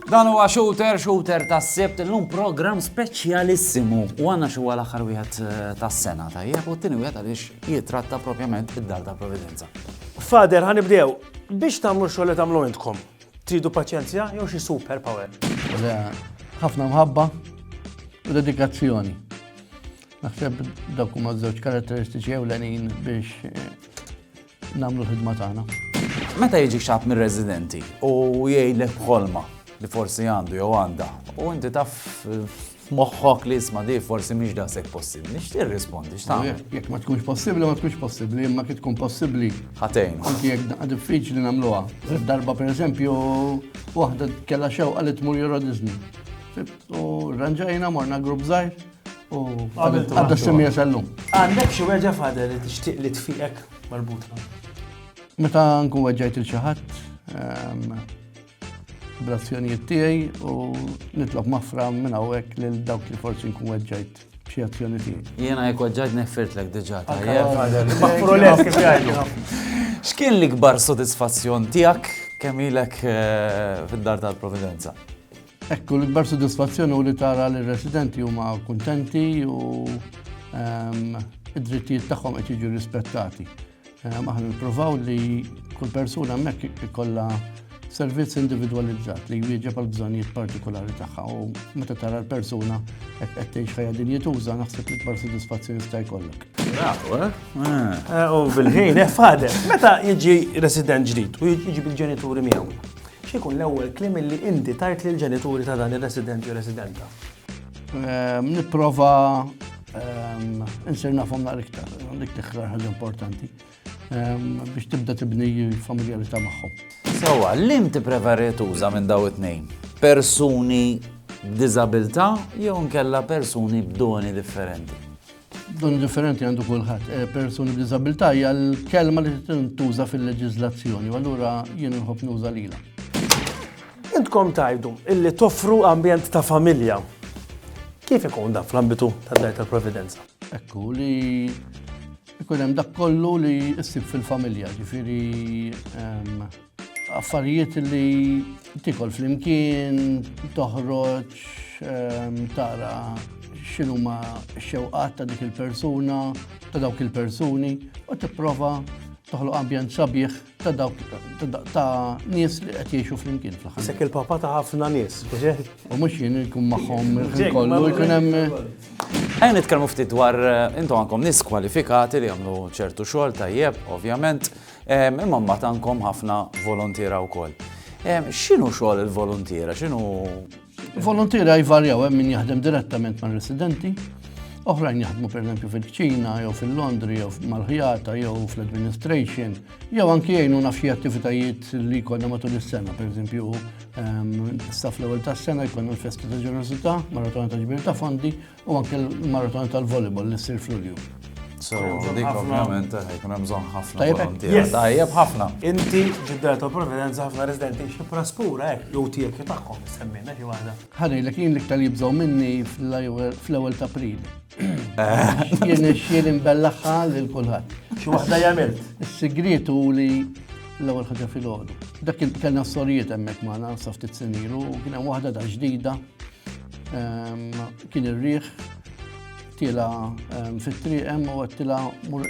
Dan huwa shooter, shooter ta' sebt l-lum program speċjalissimu. U għanna xi għal aħħar wieħed eh, tas-sena tajjeb u t-tieni wieħed għaliex jitratta propjament id-dar ta' Providenza. Fader, ħanibdew biex tagħmlu xogħol li tagħmlu intkom. Tridu paċenzja jew xi super power? Le, ħafna mħabba u dedikazzjoni. Naħseb dak huma żewġ karatteristiċi ewlenin biex eh, nagħmlu ħidma tagħna. Meta jiġi xab mir-residenti u jgħidlek bħolma li forsi għandu jew għandha u inti taf f'moħħok li isma' di forsi mhix daqshekk possibbli, nixtieq irrispondi x'tagħmel. Jekk ma tkunx possibbli, ma tkunx possibbli, imma kif tkun possibbli. Ħatejn. Anki jekk daqqa diffiċli nagħmluha. Darba pereżempju waħda kellha xewqa li tmur Euro Disney. U ranġajna morna grupp żgħir u għadda semija sallum. Għandek xi weġa fadel li tixtieq li tfiqek marbuta. Meta nkun weġġajt il-xi ħadd, ehm, bl-azzjonijiet tiegħi u nitlob mafra minn hawnhekk lil dawk li forsi nkun weġġajt b'xi azzjoni tiegħi. Jiena jekk weġġajt nefirtlek diġà tajjeb. Maħfrules kif jgħidu. X'kien l-ikbar sodisfazzjon tiegħek kemm ilek eh, fid-dar tal-Providenza? Ekku, l-ikbar sodisfazzjon u li tara li residenti huma kuntenti u ehm, id-drittijiet tagħhom qed jiġu rispettati. Ehm, aħna nippruvaw li kull persuna hemmhekk ikollha servizz individwalizzat li jwieġeb għal bżonnijiet partikolari tagħha u meta tara l-persuna qed tgħix ħajja din jituża naħseb li kbar sodisfazzjoni sta jkollok. Eh? Eh, u bil-ħin, eh, fader, meta jiġi resident ġdid u jiġi bil-ġenituri miegħu. X'ikun l-ewwel klim li inti tajt lill ġenituri ta' dan ir-resident jew residenta? Ehm, nipprova Insir nafhom naqra iktar, dik tiktar ħaġa importanti biex tibda tibni familjalità magħhom. Sawa, l-lim tippreferi tuża minn daw it-tnejn? Persuni b'diżabilità jew nkella persuni b'doni differenti? Doni differenti għandu kulħadd. Eh, persuni b'diżabilità hija l-kelma li tintuża fil-leġiżlazzjoni, u allura jien inħobb nuża lilha. Intkom tgħidu illi toffru ambjent ta' familja. Kif ikun dan fl-ambitu tad-Dar tal-Providenza? Ekku li ikun hemm dak kollu li issib fil-familja, ġifieri ehm, affarijiet li tikol flimkien, toħroġ, ehm, tara x'inhuma x-xewqat ta' dik il-persuna, ta' dawk il-persuni, u tipprova toħloq ambjent sabiħ ta' dawk ta' nies li qed jgħixu flimkien fl-aħħar. Sek il-papa ta' ħafna nies. U mhux jien ikun magħhom kollu jkun hemm. Ejn nitkellmu ftit dwar eh, intom għandkom nies kwalifikati li jagħmlu ċertu xogħol tajjeb, ovvjament, eh, imma mbagħad għandkom ħafna volontiera wkoll. Eh, x'inhu xogħol il-volontiera? X'inhu Volontira jvarjaw hemm min jaħdem direttament ma' residenti, oħrajn jaħdmu pereżempju fil-ċina, jew fil-Londri, jew mal-ħjata, jew fl-administration, jew anki jgħinu naf xi attivitajiet li jkollna matul is-sena, pereżempju ehm, staff l-ewwel tas-sena jkollna l-festa ta' ġenerosità, maratona ta' ġbir ta' fondi, U anke l-maratona tal-volleyball li ssir fl-Ulju. So, dik ovvjament eh, jkun hemm bżonn ħafna volontiera. Tajjeb ħafna. Inti ġiddar ta' providenza ħafna residenti xi praspura hekk jew tiegħek jew tagħhom semmejna xi waħda. Ħanej lek jien l-iktar jibżgħu minni fl-ewwel ta' April. Eh. Jien ix-xien imbellaħħa lil kulħadd. Xi waħda jagħmilt. Is-sigriet hu li l-ewwel ħaġa fil-għodu. Dak il kellna sorijiet hemmhekk magħna sa ftit senilu, kien hemm waħda da ġdida Kien ir-riħ tila fit-triq hemm u għattila mur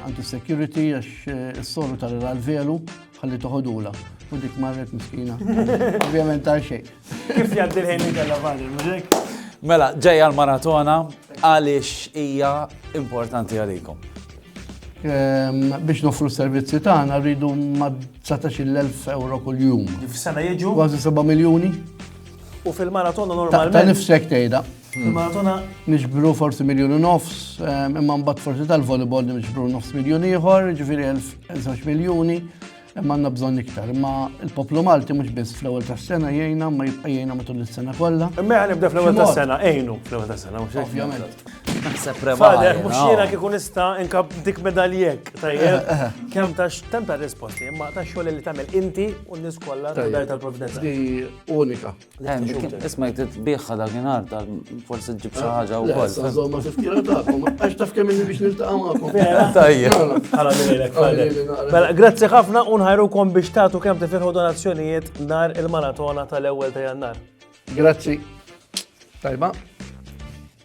anti-security għax s-soru tal l-velu ħalli toħodula. U dik marret miskina. Ovvijament ta' xej. Kif jaddi l-ħin li kalla bħadil, mużek? Mela, ġeja l-maratona għalix hija importanti għalikom. Ehm, biex nofru servizzi tagħna rridu ma' 19,000 euro kuljum. F'sena jiġu? Kważi 7 miljuni. U fil-maratona normalment. Ta' nifsek tgħidha. Fil-maratona. Nixbru forsi miljoni nofs, ehm, imma mbagħad forsi tal-volleyball nixbru nofs miljoni ieħor, ġifieri 1000 miljuni. Imma għandna bżonn iktar, imma il-poplu Malti mhux biss fl-ewwel tas-sena jgħinna ma jibqa' jgħinna matul is-sena kollha. Imma għan nibda fl-ewwel tas-sena, għinu fl-ewwel tas-sena, mhux Ovvjament. Naħseb prevali. Mhux jiena kieku nista' inkab dik medaljek, tajjeb. Eh, eh, eh. Kemm ta' temp ta' risposti, imma ta' xogħol li tagħmel inti u n-nies kollha tal-Providenza. Di unika. Isma jgħid biħħa dak inhar ta' forsi ġib xi ħaġa wkoll. Żomma tifkira tagħkom, għax taf kemm inni biex niltaqgħu magħkom. Tajjeb. Mela, grazzi ħafna u nħajrukom biex tagħtu kemm tifirħu donazzjonijiet nar il-maratona tal-ewwel ta' Jannar. Grazzi. Tajba.